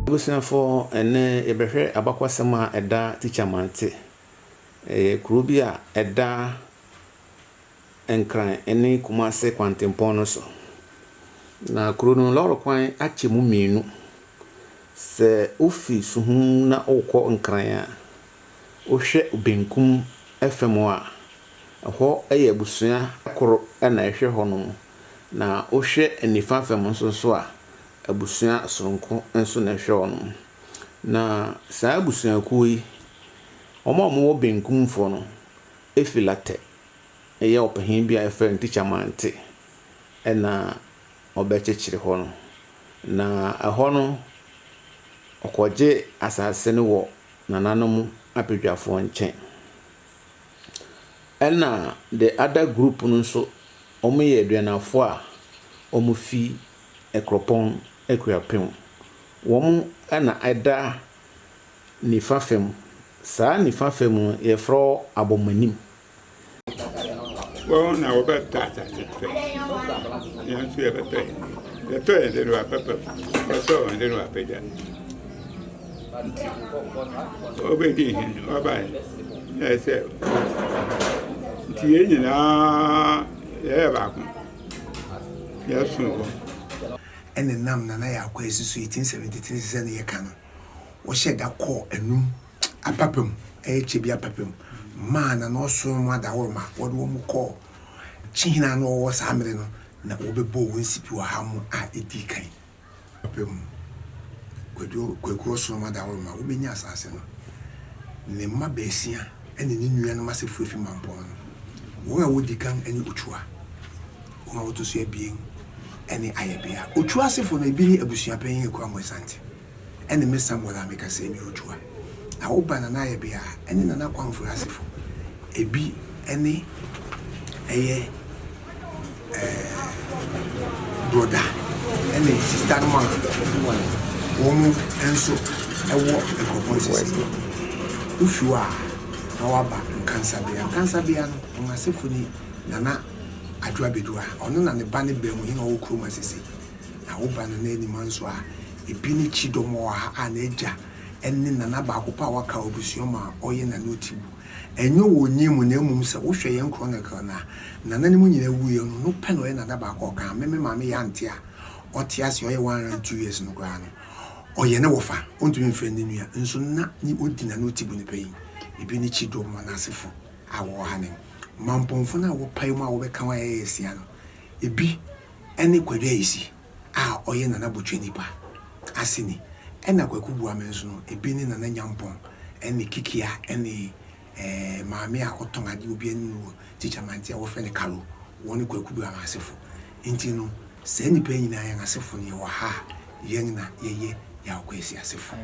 Abusuafoɔ ɛnnɛ yɛbɛhwɛ abakɔsɛm a ɛda Tikya Mante. Ɛyɛ kuro bi a ɛda Nkran ne Kumase kwantempɔn no so. Na kuro no lɔre kwan akyɛ mu mmienu. Sɛ wofi Suhum na wokɔ Nkran a, wohwɛ benkum fam a, ɛhɔ yɛ abusua koro na ɛhwɛ hɔ nom. Na wohwɛ nifa fam nso so a, abusua soronko nso na ɛhwɛ wɔn. Na saa abusuakuo yi, wɔn a wɔwɔ benkumfoɔ no, Efilatɛ yɛ ɔpanin bi a wɔfrɛ no Tikya Mante na ɔbɛkyekyere hɔ no. Na ɛhɔ no, ɔkɔgye asase no wɔ nananom abadwafoɔ nkyɛn. Ɛna the other group no nso ɔmo yɛ aduanafoɔ a ɔmo fi Ɛkorɔpɔn Akuapem. Wɔn ɛna ɛda nifa fam. Saa nifa fam no yɛfrɛ hɔ Abɔmanim. Wɔn na wɔbɛ tɔ asase no fɛ. Yɛn nso yɛbɛ tɔ yɛn de. Yɛtɔ yɛn de no wapɛ pɛm. Yɛtɔ wɔn de no wapɛ gya. Ɔbɛdii hene, ɔbaeɛ na ɛsɛ nti yɛn nyinaa yɛyɛ baako, yɛsom hɔ. ɛna nam Nana Yakwasi so 1873 sesɛ na yɛka no, wɔhyɛɛ da kɔɔ anum apapa mu, ɛyɛ Kyebi apapa mu, maa Nana ɔsomfo adaworo ma wɔde wɔn kɔɔ Kyehene a na ɔwɔ hɔ saa mmere no, na wɔbɛbɔɔ wɔn nsipi wɔ ha mu a ɛdii kan. ɔpɛ mu. Kwadwo Kwaku Ɔsono Madaworoma, wobɛnya asaase no. Ne mma baasia ne ne nuanom asefoɔ afi Mampɔn no. Wɔn a wɔdi kan ne Ochoa. Wɔn a wɔto so abien ne Ayɛbea. Ochoa asefoɔ no, ebi ne Abusuapanyin Akuamoah Asante. Ɛne me Samuel a meka sɛ ɛnyɛ otua. Na wo ba Nana Ayɛbea a ɛne Nana Kwanfure asefo. Ɛbi ne ɛyɛ ɛɛ brɔda ne sista nom a wɔn nso wɔ nkurɔpɔn sisi. Wo fi hɔ a na woaba Nkansabea. Nkansabea no wɔn asefo ni Nana Adwo Abedua, ɔno na ne ba ne Bɛɛmuhene a ɔwɔ Kuroma sisi. Na wo ba Nanaenima nso a ebi ne Kyidɔm wɔ ha a n'agya ne nana baako pɛ a waka wɔ abusua mu a ɔyɛ Nana Otibu. Ɛnyɛ wɔ onyin mu na mmom sɛ wohwɛ yɛn chronicle no a, nana no mu nyinaa wuiɛ no, ɔno pɛ na ɔyɛ nana baako a ɔka ha. Me me maame yɛ ante a ɔte ase a ɔyɛ 102 years no koraa no, ɔyɛ ne wɔfa, ɔntumi mfrɛ ne nua. Nso na ne ɔdi Nana Otibu no pɛn. Ebi ne Kyidɔm wɔn asefo a wɔwɔ ha nen. Mampɔnfo no a wɔpae mu a wɔbɛka wɔn a ɛyɛ asia no, ebi ne Kwadu Ayisi a ɔyɛ Nana Botwe nipa aseni ɛna Kwaku Boame nso no ebi ne Nana Nyampong ne Kikia ne maame a ɔtɔn adeɛ obi anim no wɔ Tikya Mante a wɔfrɛ no Kalo wɔne Kwaku Boame asefo nti no saa nipa yi nyinaa yɛn asefo no yɛwɔ ha a yɛn na yɛyɛ Yaw Kwesi asefo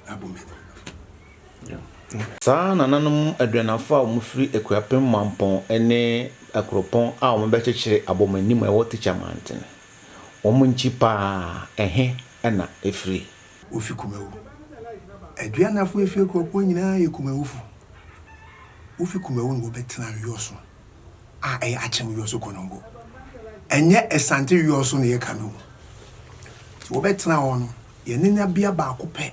Abomani. Saa nananom aduanafo a wɔfiri Akuapem Mampɔn ne akuropɔn a wɔbɛkyekyere abɔ mo anim a ɛwɔ Tikya Manten. Wɔn nkyi paa, ɛhe na ɛfiri? Wofi Kumawu. Aduanafo a ɛfiri akuropɔn nyinaa yɛ Kumawufo. Wofi Kumawu na wɔbɛtenaa Wiɔso a ɛyɛ Akyem Wiɔso Konongo. Ɛnyɛ Asante Wiɔso na yɛka no o. Nti wɔbɛtenaa hɔ no, yɛne nabea baako pɛ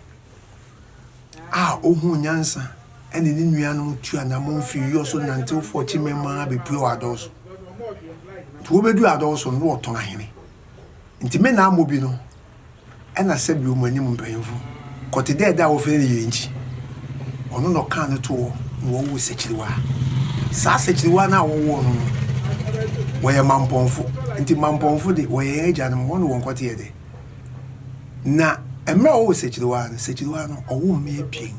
a ohuu nyansa ne ne nuanom tu anammɔn fii Uyo so nantew fɔɔ Chimɛn mu ara bepuee wɔ Adɔw so. Nti wobeduu Adɔw so no, na wɔtɔn ahene. Nti me na Amobi no na sɛbe wɔn anim mpanyimfo, kɔte dɛ da a wɔfrɛ no Yɛrenkyi. Ɔno na ɔkaa no too hɔ na wɔwoo Sɛkyiriwaa. Saa Sɛkyiriwaa no a wɔwoo no no, wɔyɛ Mampɔnfo. Nti Mampɔnfo de, wɔyɛ yɛn agyanom, wɔne wɔn kɔteɛ dɛ. Na mmerɛ a ɔwɔ Sekyiriwaa no, Sekyiriwaa no ɔwɔ mmea abien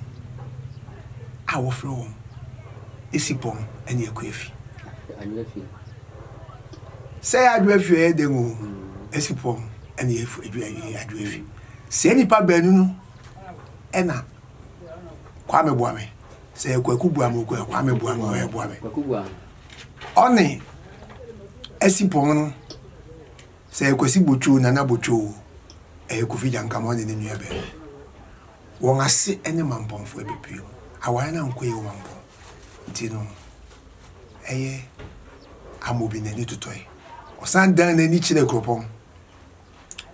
a wɔfrɛ wɔn Esipɔn ne Akuafi. Sɛ yɛ Adwoafi a ɛyɛ dɛn o, Esipɔn ne Adwoafi. Sɛ nnipa baanu no ɛna Kwame Boame, sɛ yɛ Kwaku Boame o, Kwame Boame o, ɛyɛ Boame. Ɔne Esipɔn no Sɛ ɛyɛ Kwasi Botwoo, Nana Botwoo o, ɛyɛ Kofi Gyankama ɔne ne nua bɛn o, wɔn ase ne Mampɔnfoɔ bɛpue mu. Aware no ankɔ yie wɔ Mampɔn nti no, ɛyɛ Amobi n'ani totɔe. Ɔsan dan n'ani kyerɛɛ Kuropɔn.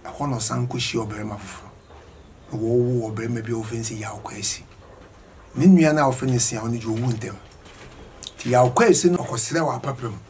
Ɛhɔ na ɔsan kɔhyiaa ɔbarima foforɔ, na wɔwoo ɔbarima bi a wɔfrɛ no sɛ Yaw Kwasi. Ne nua no a wɔfrɛ no Siaw no deɛ, ɔwu ntɛm. Nti Yaw Kwasi no, ɔkɔsrɛɛ wɔ apapram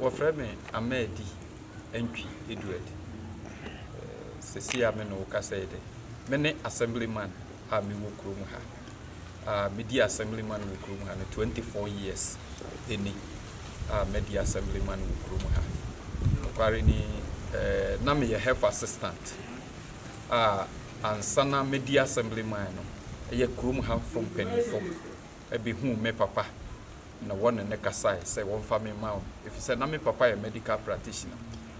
Wɔfrɛ me Ammadi Antwi Edward. Sɛsi a me ne wo kasa yi de, me ne Assemblyman a me wɔ kurom ha a me di Assemblyman wɔ kurom ha no 24 years ni a madi Assemblyman wɔ kurom ha. Nokware ni, na me yɛ Health Assistant a ansa na me di Assemblyman no, ɛyɛ kurom ha fo mpanyinfo bɛ huu me papa. na wɔne no kasae sɛ wɔmfa me mma wɔn, efisɛ na me papa yɛ medical practitioner,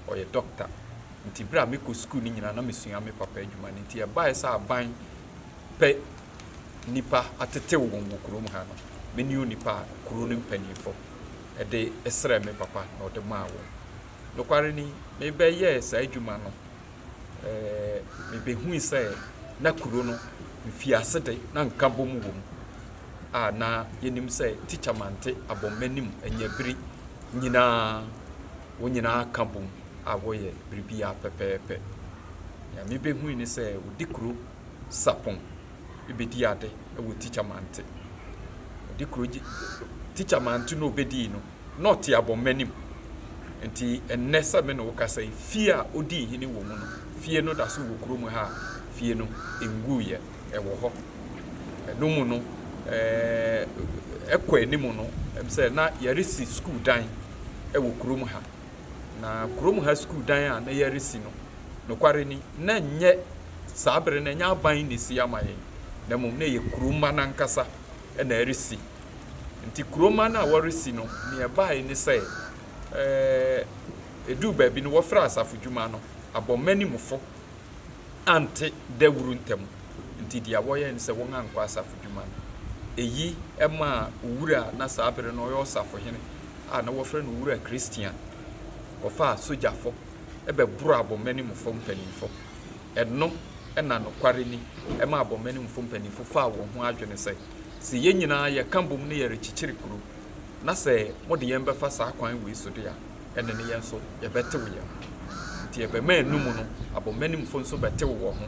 ɔyɛ dɔkta. Enti bere a mekɔ sukuu no nyinaa na misua me papa adwuma no. Enti ɛbae sɛ aban pɛ nnipa atetew wɔn wɔ kurom ha no, me ne onipa a kurow no mpanyimfo de srɛɛ me papa na ɔde maa wɔn. Nokware ni, mebɛyɛɛ saa adwuma no. mibehui sɛ na kurow no mfiase de na nkabom wom a na yenim sɛ Tikya Mante abɔ m'anim anya bere nyinaa. Wɔn nyinaa ka bom a wɔyɛ biribiara pɛpɛɛpɛ. Nea mibehui ne sɛ wɔde kurow sapɔn bedi ade wɔ Tikya Mante. Wɔde kurow Tikya Mante na obedii no, na ɔte abɔnma anim. Enti ɛnnɛ sɛ me ne wo kasa yi, fie a odii hene wɔ mu no, fie no da so wɔ kurom ha a fie no nguiɛ. Ɛwɔ hɔ. Ɛno mu no, ɛɛ, ɛkɔ anim no, ɛm sɛ na yɛresi sukuu dan wɔ kurom ha. Na kurom ha sukuu dan a na yɛresi no, nokware ni, na ɛnyɛ saa bere no, ɛnyɛ aban na esi ama yɛn, na mmom na ɛyɛ kurom mma no ankasa. na ɛresi. Nti kuroma no a wɔresi no, nea ɛbae ne sɛ, ɛɛ, ɛduu baabi no, wɔfrɛɛ asafo dwuma no, abɔmmanimfo ante dawuru ntam. Nti deɛ wɔyɛe ne sɛ wɔankɔ asafo dwuma no. Eyi maa owura a na saa bere no ɔyɛ ɔsafohene a na wɔfrɛ no Owura Christian kɔfaa sogyafo bɛboroo abɔmmanimfo mpanyimfo. Ɛno na nokware ni ma abɔmenmfo mpanyimfo faa wɔn ho adwene sɛ, Sɛ yɛn nyinaa yɛka bom na yɛrekyekyere kurow, na sɛ mode yɛn bɛfa saa kwan wei so de a, ɛnne no yɛn nso yɛbɛtew yɛn ho. Enti ɛbɛma ɛno mu no abɔmenmfo nso bɛtew wɔn ho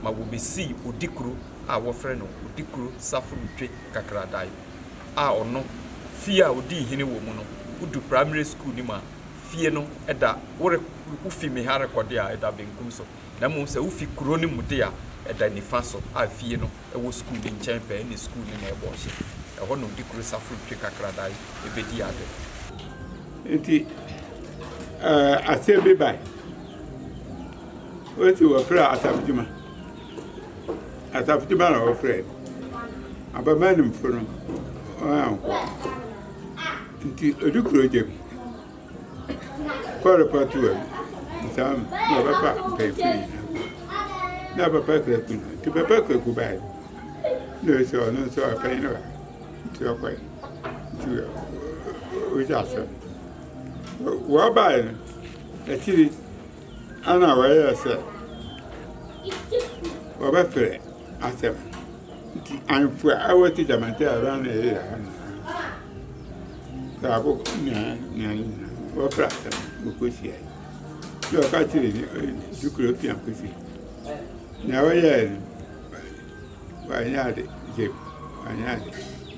ma wobesii odikuro a wɔfrɛ no Odikuro Saforotwe Kakradae a ɔno, fie a odii hene wɔ mu no, wodu Primary School no mu a, fie no da, wore, wufi me ha rekɔ de a, ɛda benkum so, na mmom sɛ wufi kurow no mu de a, ɛda nifa so, a fie no wɔ sukuu no nkyɛn pɛɛ, ɛnne sukuu no na ɛbɔ ɔhye. Ɛhɔ na odi kuro safo retwe kakradae bedi ade. Enti asɛm bi bae. Wosi wɔfrɛ asafo dwuma. Asafo dwuma na wɔfrɛ. Abammaa nimfo no, wɔankɔ. Nti odu kuro gya mu kɔ repɔto wɔ mu saa mu na ɔbɛfa mpanyinfoɔ nyinaa na papa kuraku no nti papa kuraku baeɛ na ɔsɛ ɔno nso ɔpanyin no ba nti ɔkɔe nti ɔgya asɛm wɔbaeɛ no akyiri. Ana wɔyɛɛ sɛ wɔbɛfrɛ asɛm nti ahemfo a wɔte Damatea ara na ɛyɛ ha nyinaa. Saabo na na wɔfrɛ asɛm wɔkɔhyia yi. Na ɔka kyerɛ ne dukuro fi akɔsi. Na wɔyɛɛ no wɔanyɛ ade gyem wɔanyɛ ade.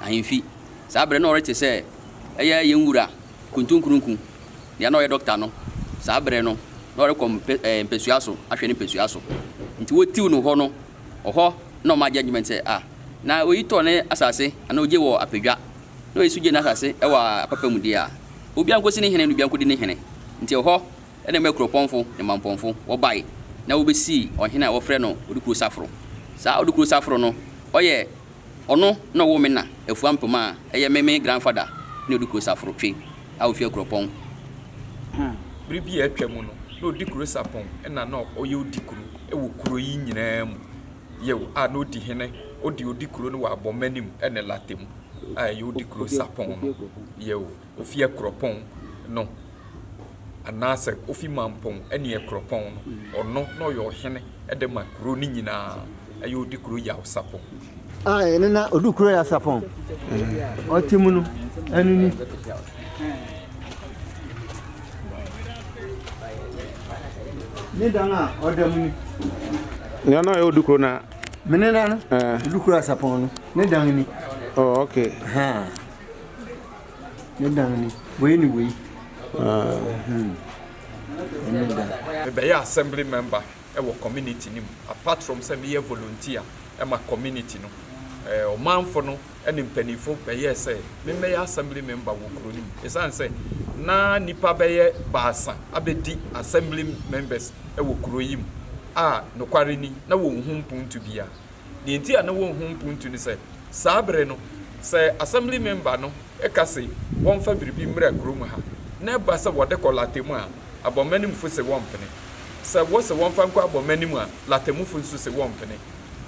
Ahemfi. Saa bere no na ɔrete sɛ ɛyɛ yɛn Wura Kuntunkurunku, nea na ɔyɛ dɔkta no saa bere no, na ɔrekɔ mpasua so ahwɛ ne mpasua so. Nti wotiw no hɔ no, ɔhɔ na ɔma judgement sɛ, ah, na oyi tɔ ne asase anaa ogye wɔ Apadwa, na oyi nso gye n'asase wɔ Apapa mu deɛ a, obiara nkosi ne hene na obiara nkodi ne hene. Nti ɛhɔ na ɛmaa kuropɔnfo ne mampɔnfo wɔbae na wobesii ɔhene a wɔfrɛ no Odukuro Saforo. Saa Odukuro Saforo no, ɔyɛ. Ɔno na ɔwoo me na Afua Mpem a ɛyɛ me me grandfather ne ɔdi kuro Saforotwe a ɔfi Akuropɔn. Ho bere bi a atwa mu no na ɔdi kuro Sapon ɛna na ɔyɛ ɔdi kuro wɔ kuro yi nyinaa mu yɛw a na ɔdi hene ɔde ɔdi kuro no wɔ Abɔmma anim ɛne Latte mu a ɛyɛ ɔdi kuro Sapon no yɛw. ofi Akuropɔn no anaasɛ ofi Mampɔn ne Akuropɔn no, ɔno na ɔyɛ ɔhene de ma kuro no nyinaa, ɛyɛ ɔdi kuro Yawsapɔn. A ɛno na ɔdi kuro Yawsapɔn, ɔte mu no, ɛno ni. Ne dan a ɔda mu ni. Nea na ɔyɛ ɔdi kuro na. Mene na no, ɔdi kuro Yawsapɔn no, ne dan ni. Oh, okay. Ha. Ne dan ni. Wei ne wei. Ɛne dan. Mebɛyɛ assembly member wɔ community no mu apart from sɛ meyɛ volunteer ma community no. Ɔmanfo no ne mpanyimfo bɛyɛɛ sɛ memmɛyɛ assembly member wɔ kurow no mu esiane sɛ na nnipa bɛyɛ baasa abedi assembly members wɔ kurow yi mu a nokware ni na wɔnhu mpontu biara. Nea enti a na wonhu mpontu ne sɛ, saa bere no, sɛ Assembly member no ka se wɔmfa biribi mmra kurom ha, na ɛba sɛ wɔde kɔ Latemu a, abɔnmanimfo se wɔmpene. Sɛ wɔse wɔmfa nkɔ abɔnmanim a, Latemufo nso se wɔmpene.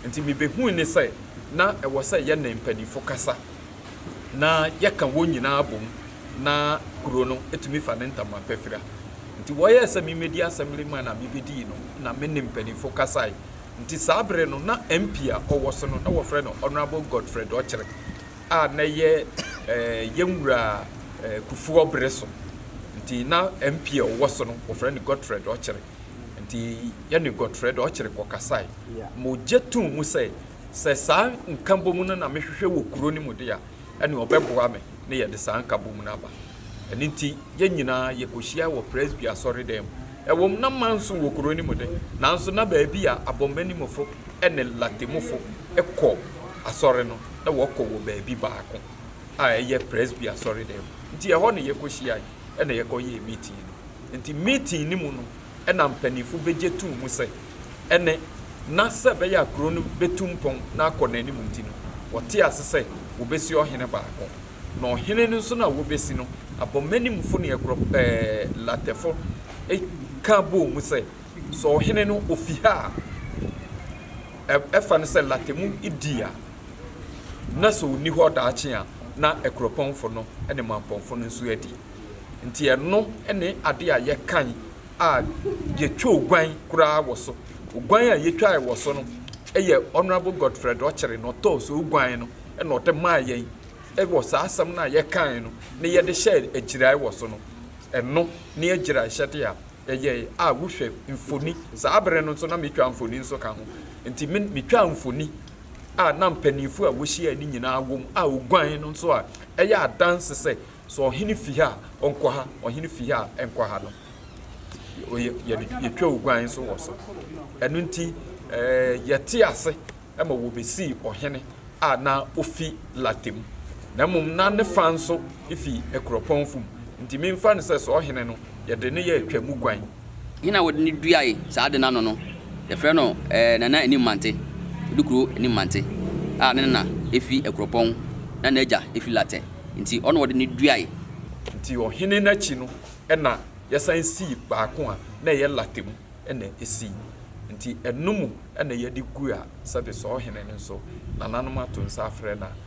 Enti mibehui ne sɛ, na ɛwɔ sɛ yɛne mpanyimfo kasa, na yɛka wɔn nyinaa bom na kurow no tumi fa ne ntama pa fira. Enti wɔyɛɛ sɛ mimmedi Assembly man a mibedii no na me ne mpanyimfo kasae Nti saa bere no na MP a ɔwɔ so no na wɔfrɛ no Honourable Godfred Okyere a na yɛ eh, yɛn wura eh, Kufuor bere so. Nti na MP a ɔwɔ so no wɔfrɛ no Godfred Okyere. Nti yɛne Godfred Okyere kɔkasae. Yeah. Mogye too mu sɛ sɛ saa nkabom no na mehwehwɛ wɔ kuro no mu de a ɛnneɛ ɔbɛboa me na yɛde saa nkabom no aba. Ɛno nti, yɛn nyinaa yɛkɔhyiae wɔ Presby asɔredan mu. Ɛwom, na manso wɔ kuro no mu de, nanso na baabi a abɔnmanimfo ne Latemufo kɔ asɔre no, na wɔkɔ wɔ baabi baako a ɛyɛ Presby asɔredan mu. Nti ɛhɔ na yɛkɔhyiae na yɛkɔyɛɛ meeting no. Nti meeting no mu no, na mpanyimfo begye toom sɛ ɛne, na sɛ ɛbɛyɛ a kurow no betu mpɔn na akɔ n'anim nti no, wɔte ase sɛ wobesi ɔhene baako. Na ɔhene no nso no a wobesi no, abɔmmɔnimfo ne akurolatɛfo ka bɔɔ mu sɛ, Sɛ ɔhene no ofi ha a, ɛfa no sɛ late mu di a, na sɛ onni hɔ daakye a, na akuropɔnfo no ne manpɔnfo no nso adi. Enti ɛno ne ade a yɛkan a yɛtwoo guan koraa wɔ so. Oguan a yɛtwae wɔ so no yɛ Honourable Godfred Okyere na ɔtɔɔ so guan no na ɔde maa yɛn wɔ saa asɛm no a yɛkae no na yɛde hyɛɛ agyirae wɔ so no. Ɛno ne agyiraehyɛde a yɛyɛe a wohwɛ mfoni, saa bere no nso na metwa mfoni nso ka ho. Enti me metwaa mfoni a na mpanyimfo a wohyiae no nyinaa wom a oguan no nso a ɛyɛ adanse sɛ So ɔhene fi ha a, ɔnkɔ ha, ɔhene fi ha a, ɛnkɔ ha no, yɛtwa oguan nso wɔ so. Ɛno nti, yɛte ase ma wɔbɛsii ɔhene a na ofi Late mu, na mmom na ne fa nso fi Akuropɔn fam. Nti memfa no sɛ so ɔhene no, yɛde no yɛ atwa mu guan. Hena a wɔde no duae saa ade no ano no, yɛfrɛ no Nana Animmante, Odukuro Animmante, a ne na fi Akuropɔn na n'agya fi Latɛ, nti ɔno na wɔde no duae. Nti ɔhene no akyi no na yɛsan sii baako a na ɛyɛ Latɛ mu na esii, nti ɛno mu na yɛde gu a sɛdeɛ saa ɔhene no nso nananom ato nsa afrɛ no a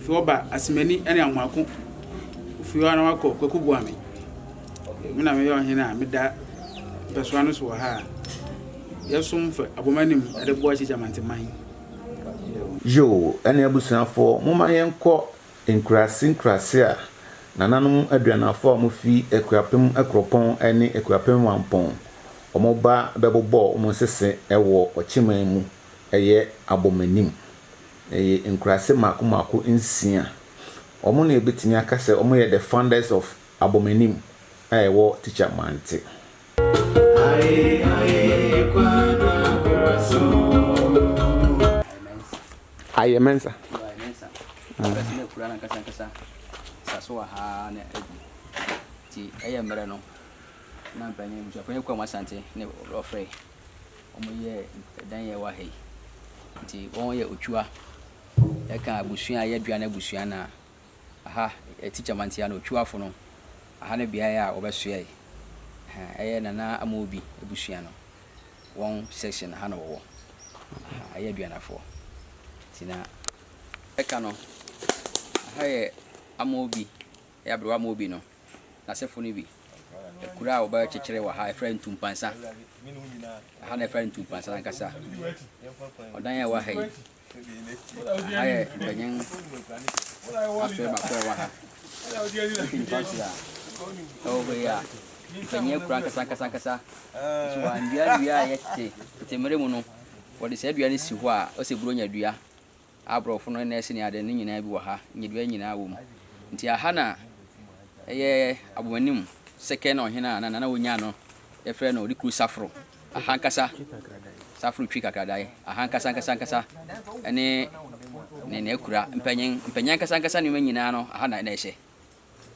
Ofiewɔ ba Asemani ne Amoako. Ofiewɔ na wakɔ Kwaku Boame. Me na meyɛ ɔhene a meda mpɛsoa no so wɔ ha a yɛsom fa abom anim de boa Kyekye Amanteman. Yoo ɛne abusuafoɔ momma yɛnkɔ nkuraase nkuraase a nananom aduanafoɔ a wɔfi Akuapem Akuropɔn ne Akuapem Mampɔn wɔba bɛbobɔ wɔn nsese wɔ ɔkyeman mu ɛyɛ abom anim. Ɛyɛ nkuraase mmaako mmaako nsia. Wɔn na yɛbɛtumi aka sɛ wɔyɛ the founders of Abɔmanim a ɛwɔ Teacher Mante. Ayɛ Mensa. wɔyɛ dan yɛ wɔ ha yi. Nti wɔyɛ otwua. Yɛka abusua a ɛyɛ aduane abusua no a, aha yɛ tikya mantia no otwuafo no, aha ne beae a wɔbɛsoɛe. Ɛhɛn, ɛyɛ Nana Amobi abusua no wɔn section aha na wɔwɔ. Aha ɛyɛ aduanafoɔ. Nti na ɛka no, aha yɛ Amobi. yɛ aberewa ma obi no, n'asefo no bi. Akuru a wɔbɛkyekyere wɔ ha, yɛfrɛ no ntumpansa. Ɛha na yɛfrɛ no ntumpansa no ankasa. Ɔdan a ɛwɔ ha yi, ɛha yɛ mpanyin asoɛ baako a ɛwɔ ha. Wofi nifa so a, ɛwɔ hɔ yi a, mpanyin akura ankasa ankasa ankasa. Nso wɔannua nnua a ɛyɛ tete. Tete mmere mu no, wɔde saa dua no si hɔ a, wɔsɛ buronya dua. Aborɔfo no, nɛɛse ne ade no nyinaa bi wɔ ha, nnyedua nyinaa wɔ mu. Nti aha na ɛyɛ abomanim sɛkɛ na ɔhene a na nana ɔnya no yɛfrɛ no Ɔdekuru Safro. Aha ankasa, Safro Twi Kakradae, aha ankasa ankasa ankasa ne ne n'akura, mpanyin mpanyin ankasa ankasa nneɛma nyinaa no aha na na ɛhyɛ.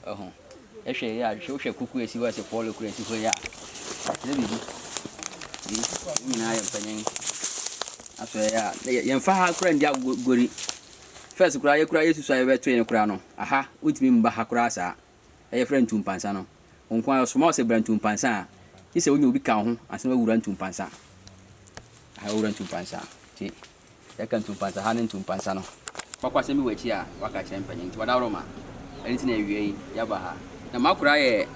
ho. Hwɛ yɛ a, hwɛ wohwɛ kuku a esi hɔ a ɛsɛ pɔɔlo kura esi hɔ yɛ a, ɛkyerɛ biribi. Yɛn nyinaa yɛ mpanyin. Afei yɛ a, yɛmfa ha kura ndi agori. Fɛs koraa yɛkura yɛsusu a yɛbɛto yɛn koraa no, aha wotumi mba ha koraa saa. Ɛyɛ frɛ ntumpansa no. Wɔn nko ara ɔsoma wo sɛ bra ntumpansa a, gye sɛ wonya obi ka wo ho ansa na wawura ntumpansa. Aha wawura ntumpansa. Nti Yɛka ntumpansa ha ne ntumpansa no. Kwakwasɛm bi wɔ akyi a waka akyerɛ mpanyin nti wadaworo ma ɛno nti na awia yi yɛaba ha. Na m'akora yɛ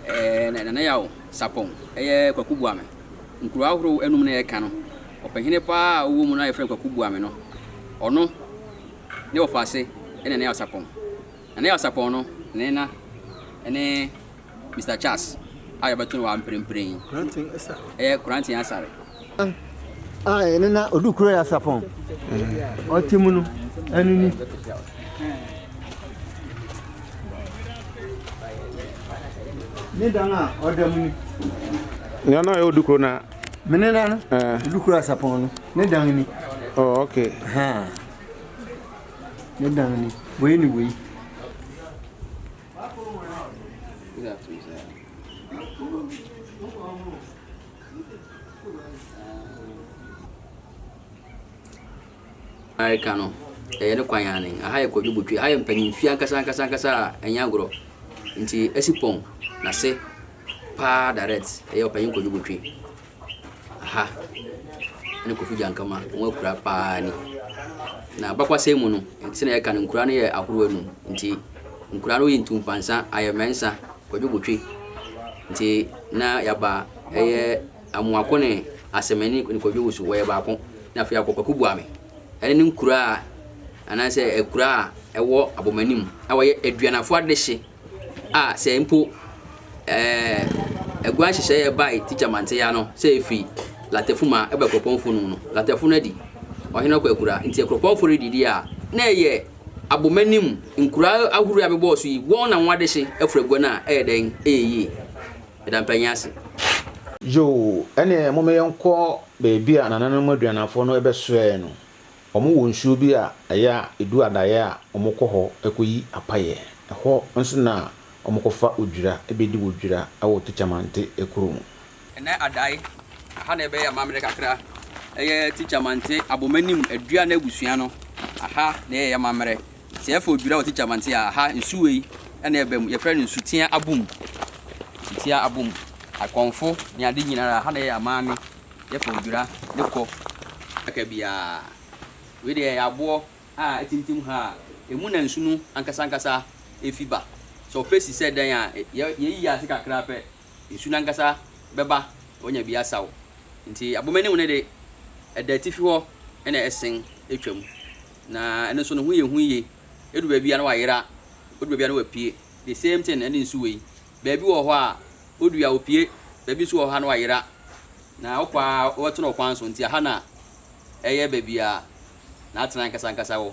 ɛɛ Nana Yaw Sapɔn ɛyɛ Kwaku Boame. Nkuro ahorow anum na yɛka no. Ɔpɛhene paa a ɔwɔ mu no a yɛfrɛ no Kwaku Boame no ɔno ne wɔfa ase ɛne Nana Yaw Sapɔn. Nana Yaw Sapɔn no ne nena ɛne Mister Charles a yɛbɛto no wɔ ha mprempren yi. Ɛyɛ Koranten Asare. A ɛno na ɔdu kuro yɛ asapɔn. Ɔte mu no, ɛno ni. Ne dan a ɔda mu ni. Nea na ɛyɛ ɔdu kuro na. Mene na no, ɔdu kuro asapɔn no, ne dan ni. Oh, okay. Ha. Ne dan ni. Wei ni wei. Amerika no ɛyɛ ne kwan yan ne aha yɛ kwadwo botwe aha yɛ mpanyinfie ankasa ankasa ankasa a ɛnyɛ agorɔ nti ɛsi pɔn na se paa direct ɛyɛ ɔpanyin kwadwo botwe ha ne Kofi Gyankama wɔn akura paa ni. Na abakwasɛm mu no, ɛte na yɛka no nkura no yɛ ahorow anum. Nti nkura no yɛ ntumpansa, ayɛmɛnsa, kwadwobotwe. Nti na yaba ɛyɛ amoako ne asɛmɛni ne kwadwowusu wɔyɛ baako. Na afei akɔ kwaku buame. Ɛne ne nkura a anaasɛ akura a ɛwɔ abɔmanim a wɔyɛ aduanafo adehye. a sɛ mpo ɛɛ agua nhyehyɛeɛ bae tikya manteya no sɛ ɛfiri latɛfo mu a ɛba kuropɔnfo no mu no latɛfo no adi ɔhene ɔkɔ akura nti akuropɔnfo redidi a na ɛyɛ abomanim nkura ahorow a bɛbɔɔ so yi wɔn na wɔn adehye afura agua no a ɛyɛ dɛn ɛyɛ yie ɛda mpanyin ase. Yoo, ɛneɛ momma yɛnkɔ baabi a nananom aduannafoɔ no bɛsoɛɛ no, Wɔwɔ nsuo bi a ɛyɛ a ɛdu adaeɛ a wɔkɔ hɔ kɔyi apaeɛ. Ɛhɔ nso na wɔkɔfa odwira bɛdi wɔ dwira wɔ Tichamante kuro mu. Ɛnnɛ adae, aha na ɛbɛyɛ amammerɛ kakra. Ɛyɛ Tichamante Abomanim Aduane Abusua no, aha na ɛyɛ amammerɛ. Sɛ yɛfa odwira wɔ Tichamante a, aha nsu wei na ɛba mu. Yɛfrɛ no Nsutea Abom, Nsutea Abom. Akɔmfo ne ade nyinaa, aha na ɛyɛ amame. yɛfa odwira ne kɔ aka biara. Wei deɛ ɛyɛ aboɔ a atintim ha a ɛmu na nsu no ankasa ankasa fi ba. Sɛ ɔpɛ si sɛ dɛn a, yɛyi ase kakra pɛ, nsu no ankasa bɛba na wanya bi asaw. Nti abomanim no de, ɛda atifi hɔ na ɛsen twam. Na ɛno nso ne ho yɛ hu yie. Ɛdu baabi a na wayera, ɔdu baabi a na wapue. The same thing ne nsu wei. Baabi wɔ hɔ a, odua a, opue. Baabi nso wɔ hɔ a, na wayera. Na ɔkɔ ara, ɔbɛtena ɔkwan so. Enti ɛha na ɛyɛ baabi a n'atenae ankasankasa wɔ.